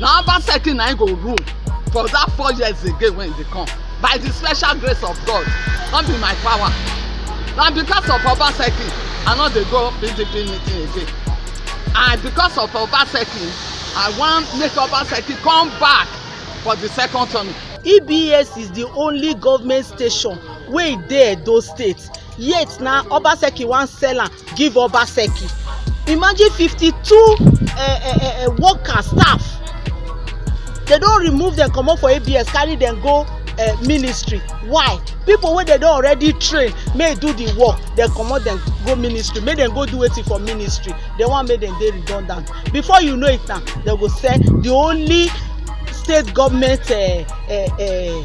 na about thirty na im go rule for that four years again when e dey come by the special grace of God no be my power na because of Obaseki I no dey go PDP meeting again and because of Obaseki I wan make Obaseki come back for the second term. EBS is the only government station wey dey Edo State yet na obaseki wan sell am give obaseki imagine fifty-two eh, eh, eh, workers staff dem don remove dem comot for abs carry dem go uh, ministry why people wey dem don already train make do the work dem comot dem go ministry make dem go do wetin for ministry dem wan make dem dey redundant before you know it na dem go sell the only state government uh, uh, uh,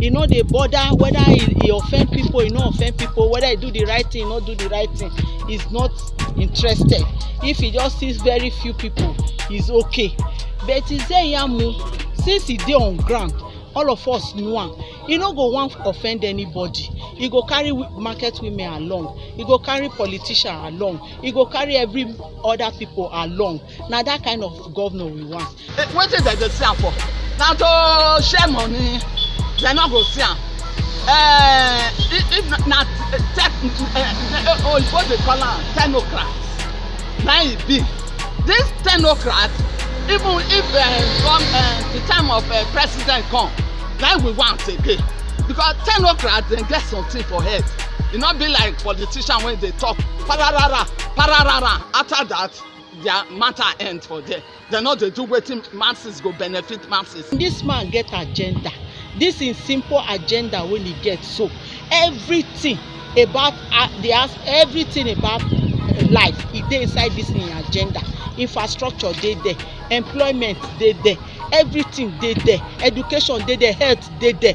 e no dey bother whether e e offend people e no offend people whether e do the right thing e no do the right thing he's not interested if he just sees very few people he's okay but Izeyamu since he dey on ground all of us know am e no go wan offend anybody e go carry market women along e go carry politician along e go carry every other people along na that kind of governor we want wetin dem dey see am for na to share money dem no go see am uh, if, if na tech uh, oyibo dey call am technocrat na e be this technocrat even if uh, come uh, the time of uh, president come na we want again because technocrat dem get something for head e no be like politician wey dey talk pararara pararara after that their matter end for there Dem no dey do wetin masses go benefit masses. Dis man get agenda, dis im simple agenda wey e get so, everything about di as everything about life e dey inside dis im agenda. Infrastructure dey there, employment dey there, everything dey there, education dey there, health dey there.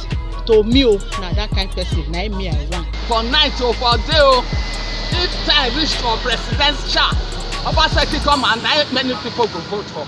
best to me o na that kind person na me i want. for night o for day o if time reach for presidential obaseki come and na many people go vote for.